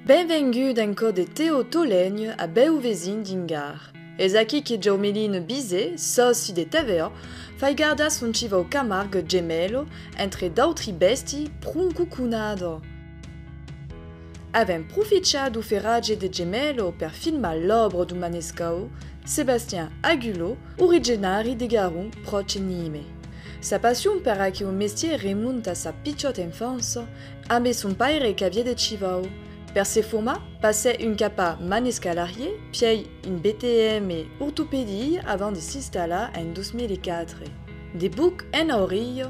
Benvengut en cò de Teo Tolègne a bèu vesin d'Ingar. Es aquí que Jaumeline Bizet, sòci de TVA, fai gardar son chivau Camargue Gemelho, entre d'autri bèsti, proncu conada! Avèm profichar do ferratge de Gemello per filmar l'òbra do manescau Sébastien Agulot, origenari de Garon, pròche Nîmes. Sa passion per aqueu mestièr remonta a sa pichòta enfança, ambé son paire qu'aviá de chivau. Per se formar, passèt un cap a Manescalarier, pièi un BTM ortopedie avant de s'installar en 2004. De buc enaurilh,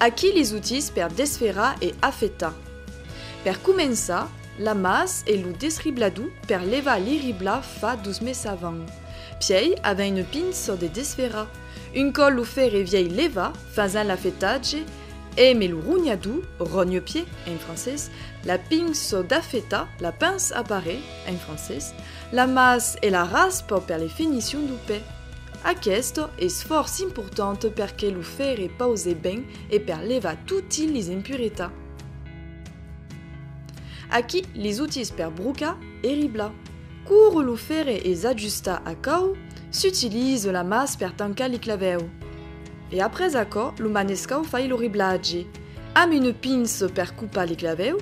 Aquí les outils per desferrar e afetar. Per començar, la mas e lo desriblador per levar li ribla fa dos mes avant. Pièi avèn une pinçò de desferrar. Un còp lo fèrre vièi levat, fasen l'afetatge e me lo ronhador, rogne-pied, en francés, la pinçò d'afetar, la pince à parer, en francés, La mas e la rasp per le fenicion du pè. Aqueste es fòrç important per que lo fèrre pause ben e per levar toti lis impuretat. Aquí lis outils per brocar e riblar. Coure lo fèrre e s'ajustar a cau, s'utilize la mas per tancar li clavèu. E après aquò lo manescau fai lo riblatge, amb une pince per copar li clavèu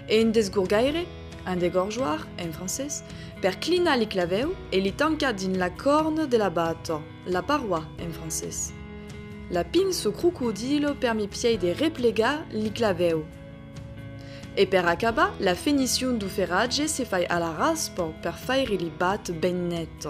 e un desgorgaire Un degorjoir, en francés, per clinar li clavèu e li tancar dins la corne de la bata, la paroi, en francés. La pince o crocodilo per mi piei de replegar li clavèu. E per acabar, la fenicion du ferratge se fai a la raspa per faire li bat ben net.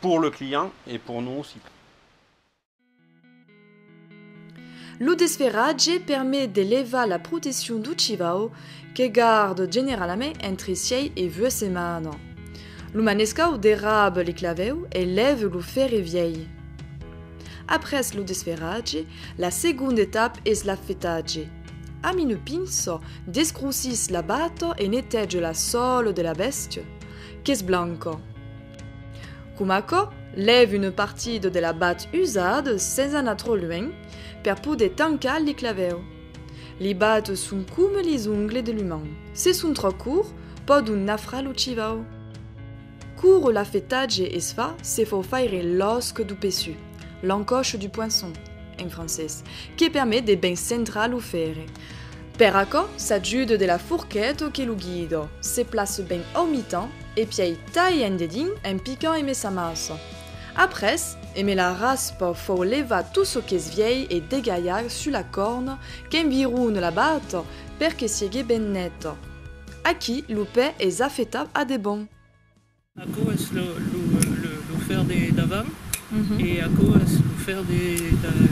Pour le client et pour nous aussi. Lo desferratge permet de levar la proteccion du chivau que garde generalament entre sièi e vuèt setmana. Lo manescau derrabe le clavèu e lève lo fèrre vièi. Après lo desferratge, la segonda etapa es l'afetatge. Amine pinço, descrosís la bata e netège la sòla de la bèstia. qu'es blanco. Com aquò, lève une partida de la bat usad sens anar trop luenh per poder tancar li clavèu. Li bat son coma lis ongles de l'uman, se son trop courts pòdon nafrar lo chivau. Cour l'afetatge es fa se fò faire l'osc du peçut, l'encoche du poinçon, en francés, que permet de ben centrar lo fèrre. Per aquò, s'ajude de la forquet o que lo guido se place ben au mitan e pièi taille un dedin en picant eme sa massa. Après, eme la raspa fau levar tot çò qu'es vièi e degalhar sus la corna qu'environe la bata per que siegue ben neta. Aquí, lo pè es afetat a debon. Aquò es lo fer de davant e aquò es lo fer de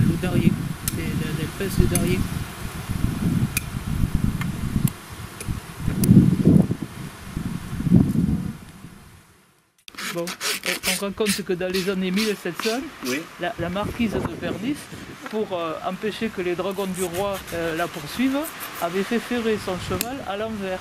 lo darrier, del pes de darrier. Bon, on raconte que dans les années 1700, la marquise de Bernis, pour empêcher que les dragons du roi la poursuivent, avait fait ferrer son cheval à l'envers.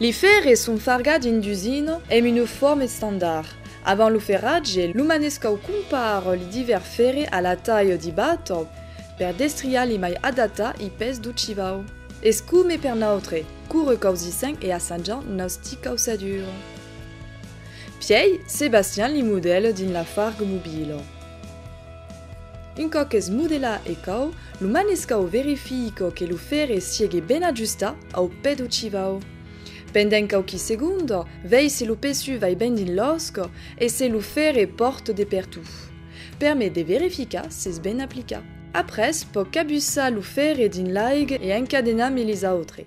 Li fèrre son farga dins d'usina emb un uform estandard. Avant lo ferratge, lo manescau compar li divèr fèrre a la talha di batòp per destriar li mai adata i pes do chivau. Es come per nautre, cure causissèm e assajam nausti causadure. Pièi, Sebastian li modèle dins la farg mobila. Un còp qu'es modela e cau, lo manescau verifico que lo fèrre siegue ben ajustat au pè do chivau. Pendent quauqui segonda, vei se lo pesu vai ben dins l'osca e se lo fèrre pòrt de pertot. Per me de verificar s'es ben aplicat. Après, pòc cabussar lo fèrre dins l'aiga e encadenar-me les autres.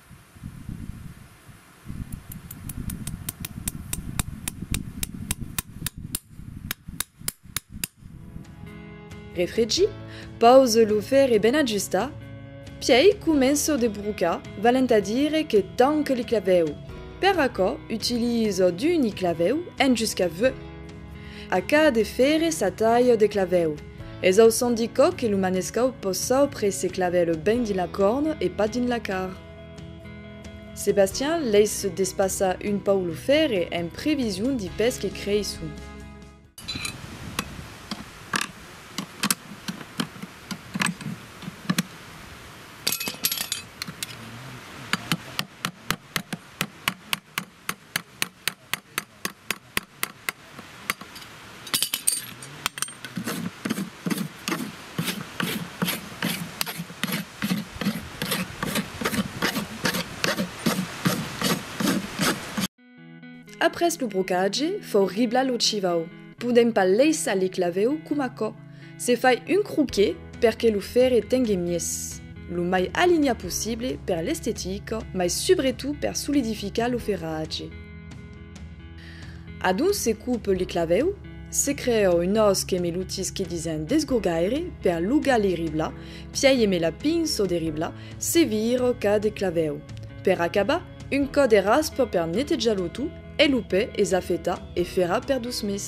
Refregi, pause lo fèrre ben ajustar, pièi començo de brocar, valent a dire que tanque li clavèu, per aquò utilizo d'uni clavèu en jusca V. A cada fèrre sa talha de clavèu. Es au son di còc que lo manescau pòs saupre se claver le ben dins la corn e pas dins la car. Sebastian leis despassa un pauc lo fèrre en prevision di pes que creisson. Après lo brocatge, fau riblar lo chivau. Podèm pas laissar li clavèu com aquò. Se fai un croquet per que lo fèrre tengue mies, lo mai alinhat possible per l'estetica mai subretot per solidificar lo ferratge. Adonc se coupe li clavèu, se crèa un ós que me lutisque disent d'esgogaire per lugar li ribla, pièi eme la pinço de ribla, se vira cada clavèu. Per acabar, un cò de raspa per netejar lo tout, E lo pè es a fetar e ferà per dos mes.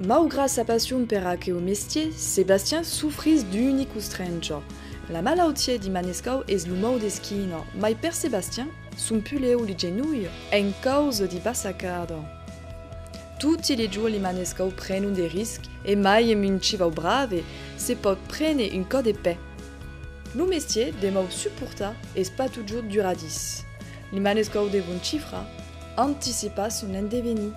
Maugrat sa passion per aqueu mestier, Sebastien sofrís d'unica ostrèncha. La malautia de Manescau es lo mau d'esquina, mai per Sebastien, Son pulèu li genolh en causa di bassacada. Toti li jorn li manescau prenon de risc e mai en un civau brave se pòt prene un còp de pè. Lo mestier demòu suportar es pas totjorn duradís. Li manescau devon cifrar, anticipar son endevenir.